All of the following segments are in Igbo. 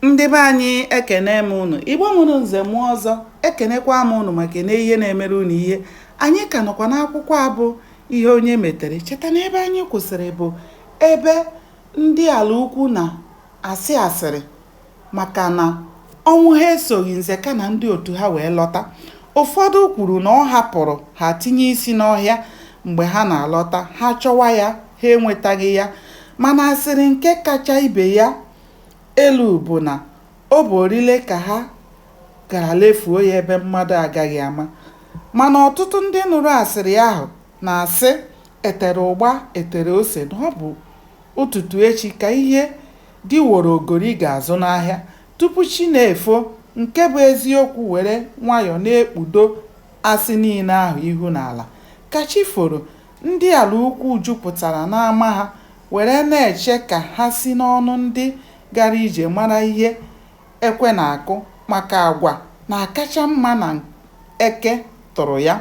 Ndị be anyị ekene m unu Igbo mụrụ nze mụọ ọzọ ekenekwa m unu maka na ihe na-emere unu ihe anyị ka nọkwa n'akwụkwọ a bụ ihe onye metere cheta na ebe anyị kwụsịrị bụ ebe ndị ala ukwu na-asị asịrị maka na Ọnwụha esoghị Nzeka na ndị otu ha wee lọta ụfọdụ kwuru na ọ hapụrụ ha tinye isi n'ọhịa mgbe ha na-alọta ha chọwa ya ha enwetaghị ya mana asịrị nke kacha ibe ya elu bụ na ọ bụ orile ka ha gara lefuo ya ebe mmadụ agaghị ama. Mana ọtụtụ ndị nụrụ asịrị ahụ na-asị e tere ụgba e tere ose na ọ bụ ụtụtụ echi ka ihe di woro ogori ga-azụ n'ahịa tupu chi na-efo nke bụ eziokwu were nwayọọ na-ekpudo asị niile ahụ ihu n'ala. Ka chi foro, Ndị ala ukwu jupụtara n'ama ha were na-eche ka ha si n'ọnụ ndị gara ije mara ihe ekwe na-akụ maka agwa na-akacha mma na eke tụrụ ya.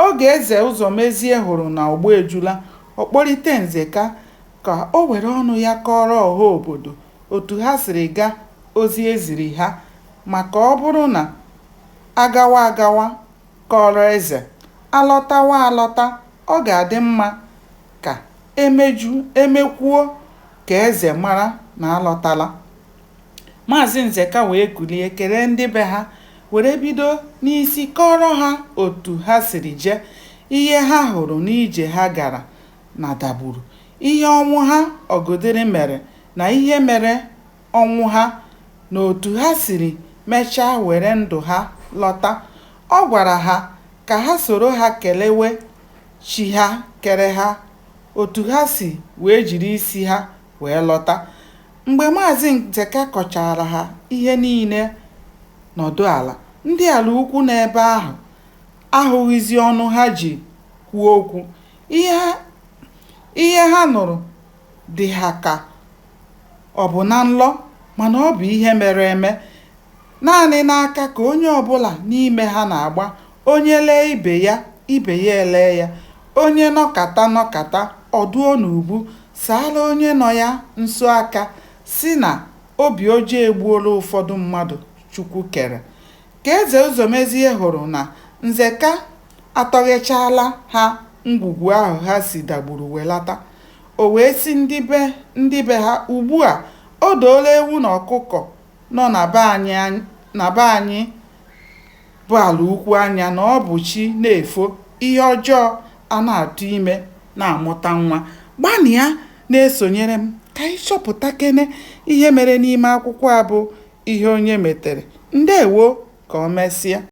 Oge Eze Ụzọmezie hụrụ na ọgbọ ejula, ọ kpọlite Nzeka ka o were ọnụ ya kọọrọ ọha obodo otu ha siri gaa ozi e ziri ha maka ọ bụrụ na a gawa agawa, kọọrọ eze, a lọtawa alọta, ọ ga-adị mma ka e meju, e mekwuo ka eze mara na a lọtala. Maazị Nzeka wee kulie kelee ndị be ha were bido n'isi kọọrọ ha otu ha siri jee, ihe ha hụrụ n'ije ha gara na Dagburu, ihe Ọnwụha Ọgụdịrị mere na ihe mere Ọnwụha na otu ha siri mechaa were ndụ ha lọta. Ọ gwara ha ka ha soro ha kelewe Chi ha kere ha otu ha si wee jiri isi ha wee lọta. Mgbe Maazị Nzeka kọchaara ha ihe niile nọdụ ala, ndị ala ukwu nọ ebe ahụ ahụghịzi ọnụ ha ji kwuo okwu. Ihe ha nụrụ dị ha ka Ọ bụ na nlọ, mana ọ bụ ihe mere eme. Naanị n'aka ka onye ọbụla n'ime ha na-agba, onye lee ibe ya, ibe ya elee ya, onye nọkata nọkata, ọ dụọ n'ubu, saara onye nọ ya nso aka, sị na obi ọjọọ egbuola ụfọdụ mmadụ Chukwu kere. Ka Eze Ụzọmezie hụrụ na Nzeka atọghechaala ha ngwugwu ahụ ha si Dagburu welata, O wee sị ndị be ndị be ha, Ugbu a, o doola ewu na ọkụkọ nọ na be anyị bụ ala ukwu anya na ọ bụ chi na-efo, ihe ọjọọ a na-atụ ime na-amụta nwa. Gbanịa na-esonyere m ka anyị chọpụtakene ihe mere n'ime akwụkwọ a bụ Ihe Onye Metere. Ndewo! Ka o mesịa.